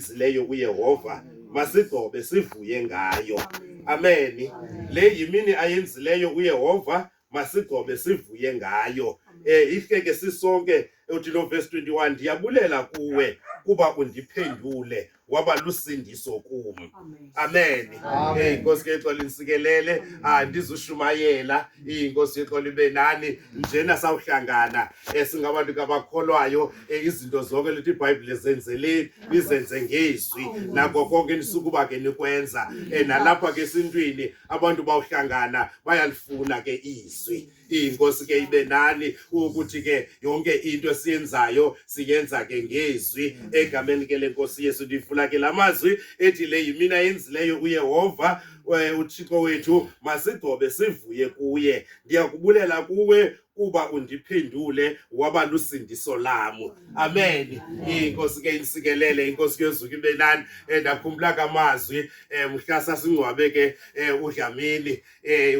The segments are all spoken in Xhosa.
ezileyo kuyehova masigobe sivuye ngayo ameni le yimini ayenzileyo uyehova masigobe sivuye ngayo eh ihle ke sisonke uthi lo verse 21 ndiyabulela kuwe kuba undiphendule waba lusindiso kum amen inkosi yexola insikelele andizushumayela inkosi yexola ibe nani njena sawuhlangana eh, singabantu kabakholwayo eh, izinto zonke lithi ibhayibhile zenzeleni nizenze ngezwi nako konke nisukuba ke nikwenza eh, nalapha ke esintwini abantu bawuhlangana bayalifuna ke izwi inkosi ke ibe nani ukuthi ke yonke into esiyenzayo siyenza ke ngezwi egameni ke lenkosi yesu ndivula ke lamazwi ethi le yimina yenzileyo uyehova eh, uThixo wethu masigobe sivuye kuye ndiyakubulela kuwe kuba undiphendule waba lusindiso lamu amen inkosi ke insikelele inkosi yozuka ibe nani eh, ndakhumbula kamazwi eh, mhla sasingcwabe ke eh, udlamini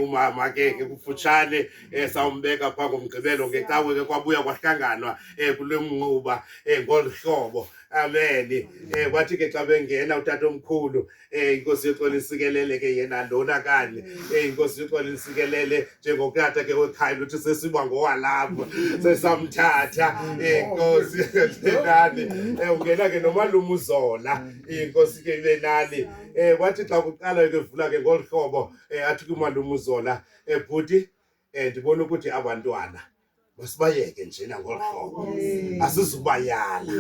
umama ke ke kufutshane sawumbeka phaa ngomgqibelo ngecawe ke kwabuya kwahlanganwa kule mnquba ngolu hlobo amen wathi ke xa bengena utata omkhulu Eh inkosi yoxola isikelele ke yena lona kanye. Eh inkosi yoxola isikelele njengokata ke wekhaya luthi sesiba ngowalapha. Sesamthatha eh inkosi nani. Eh ungena ke nomalumu uzola. Inkosi ke ibe nani. Eh wathi xa kuqala ke vula ke ngolhlobo eh athi kumalumu uzola. Eh bhuti um ndibona ukuthi abantwana masibayeke njena ngolu hlobo asizubayala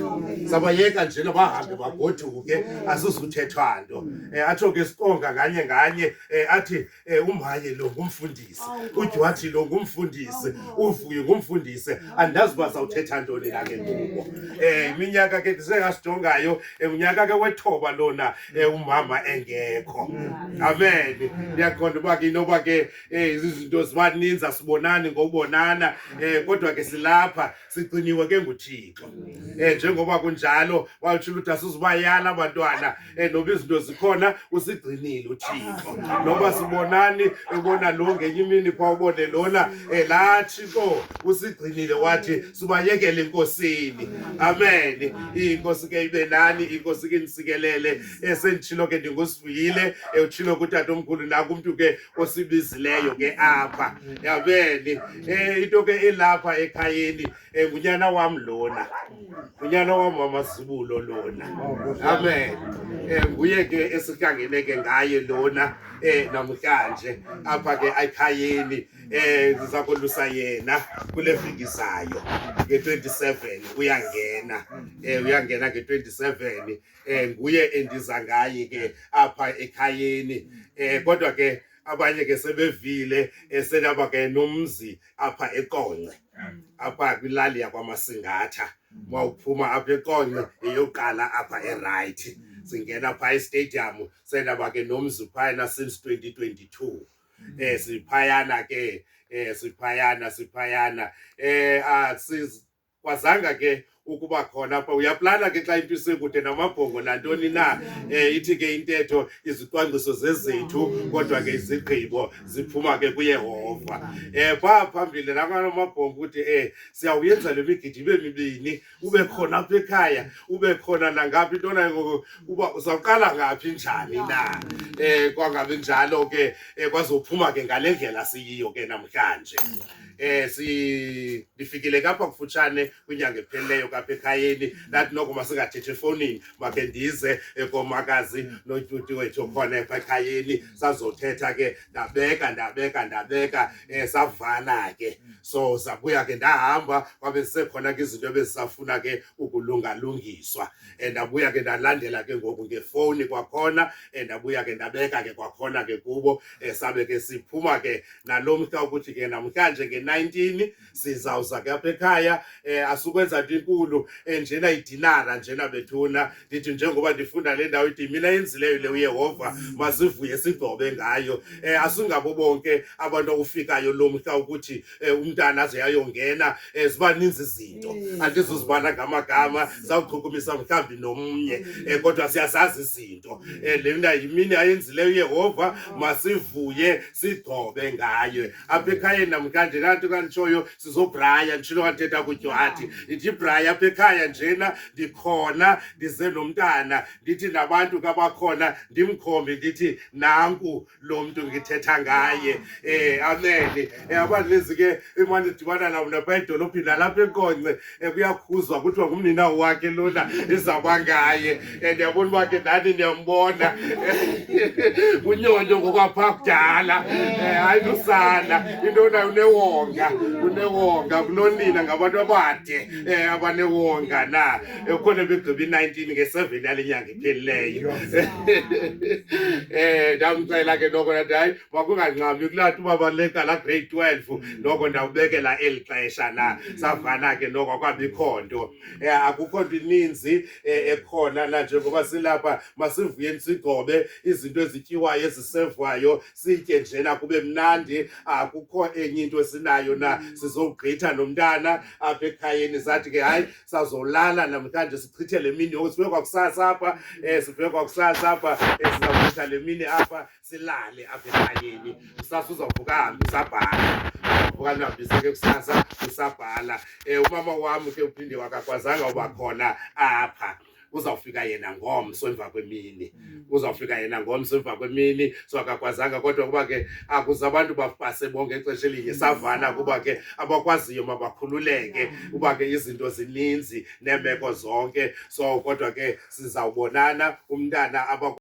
sabayeka njena bahambe bagoduke asizuthethwa nto um atsho ke sikonga nganye nganye um athi um umaye lo ngumfundisi udywathi lo ngumfundisi uvuye ngumfundisi andazi uba sawuthetha ntoni na ke kubo um iminyaka ke ndisengasijongayo um unyaka ke wethoba lona um umama engekho amen ndiyaqonda uba ke inoba ke Eh izinto zibaninzi asibonani ngobonana eh kodwa ke silapha sigciniwe ke nguThixo. Eh njengoba kunjalo wawuthula ukuthi asizubayala abantwana eh noba izinto zikhona usigcinile uThixo. Noba sibonani ubona lo ngenye imini kwa ubone lona eh la Thixo usigcinile wathi sibayekele enkosini. Amen. Inkosi ke ibe nani inkosi ke nisikelele esendithilo ke ndingusivuyile eh, uthilo kutata omkhulu nakumntu ke osibizileyo ke apha yabeni um eh, into ke elapha ekhayeni um eh, ngunyana wam lona ngunyana wam wamazibulo lona amen um nguye ke esihlangene ke ngaye lona um namhlanje apha ke ekhayeni um ndiza kolusa yena kule veki zayo nge-twenty seven uyangena um uyangena nge-twenty seven eh nguye endiza ngaye ke apha ekhayeni eh kodwa ke abanye ke sebevile esenaba ke nomzi apha eqonce apha kwilali yakwamasingatha mawuphuma apha eqonce eyoqala apha eright singena pha estadium senaba ke nomzi phayana since 2022 eh siphayana ke eh siphayana siphayana eh asiz kwazanga ke ukuba khona apha uyaplana ke xa into isekude namabhongo nantoni na um ithi ke intetho izicwangciso zezethu kodwa ke izigqibo ziphuma ke kuyehova um eh, phaa phambili namana amabhongo ukuthi um siyawuyenza le migidi ibe mibini ube khona apha ekhaya ube khona nangaphi into nayo ngoku uba uzawuqala ngaphi njani na um kwangabi njalo ke um kwazophuma ke ngale ndlela siyiyo ke namhlanje eh si ndifikile kapha kufutshane kwinyanga ephelileyo kapha ekhayeni ndathi noko masingathethe efowunini makhe ndize ekomakazi notyuti wethu okhona epha ekhayeni sazothetha ke ndabeka ndabeka ndabeka um savala ke so sabuya ke ndahamba kwabe sisekhona ke izinto ebezisafuna ke ukulungalungiswa um ndabuya ke ndalandela ke ngoku ngefowuni kwakhona um ndabuya ke ndabeka ke kwakhona ke kubo um sabe ke siphuma ke nalo mhla ukuthi ke namhlanje nge-19 sizawuza ke apha ekhaya um asukwenza nto inkulu um njena idinara njena bethuna ndithi njengoba ndifunda le ndawo ithi mina yenzileyo le uyehova masivuye sigcobe ngayo um asingabo bonke abantu okufikayo lo mhla ukuthi um umntana aze yayongena um ziba ninzi izinto mm. andizuzibana ngamagama zawuchukumisa mhlawumbi nomnye um kodwa siyazazi izinto um le mna yimini ayenzileyo uyehova masivuye sigcobe ngaye apha ekhayeni namhlanje laa nto kanditshoyo sizobraya nditshilo kandithetha kudywathi ndibraya apha ekhaya njena ndikhona ndize nomntana ndithi nabantu kabakhona ndimkhombe ndithi nanku lo mntu ngithetha ngaye um amene um eh, abandilezi ke imane dibana namna pha edolophini nalapha enkonce ekuyakhuzwa kuthiwa ngumnina wakhe lona izakwa ngaye and yabona uba ke ndani ndiyambona unyonyo ngokwapha kudala eh, hayi lusana into nayo unewonga unewonga kunonina ngabantu abade eh, abanewonga na ekhona begqiba i-nineteen nge-seven yale nyanga iphelileyo um ndamcela ke noko nathi hayi kwakunganqamli kulathi uba baleka la grade 12 mm. noko ndawubekela eli xesha la mm. savana ke noko akwabikho nto eh, akukho nto ininzi eh, ekhona la njengoba silapha masivuyeni sigobe izinto ezityiwayo ezisevwayo sitye njena kube mnandi akukho enye into esinayo na mm. sizogqitha nomntana apha ekhayeni sathi ke hayi sazolala namhlanje sichithe le mini yoko sive kwakusasa apha um sive kwakusasa apha um sizawuchitha le mini apha silale apha ekhayeni kusasa uzawuvuka ahambe usabhala uvuka ndihambise ke kusasa usabhala um umama wam ke uphinde wakakwazanga uba khona apha uzawufika yena ngomso emva kwemini mm. uzawufika yena ngomso emva kwemini so akakwazanga kodwa kuba ke akuze abantu bapase bonke ixesha elinye mm. savana kuba ke abakwaziyo mabakhululeke uba ke izinto zininzi neemeko zonke so kodwa ke sizawubonana umntana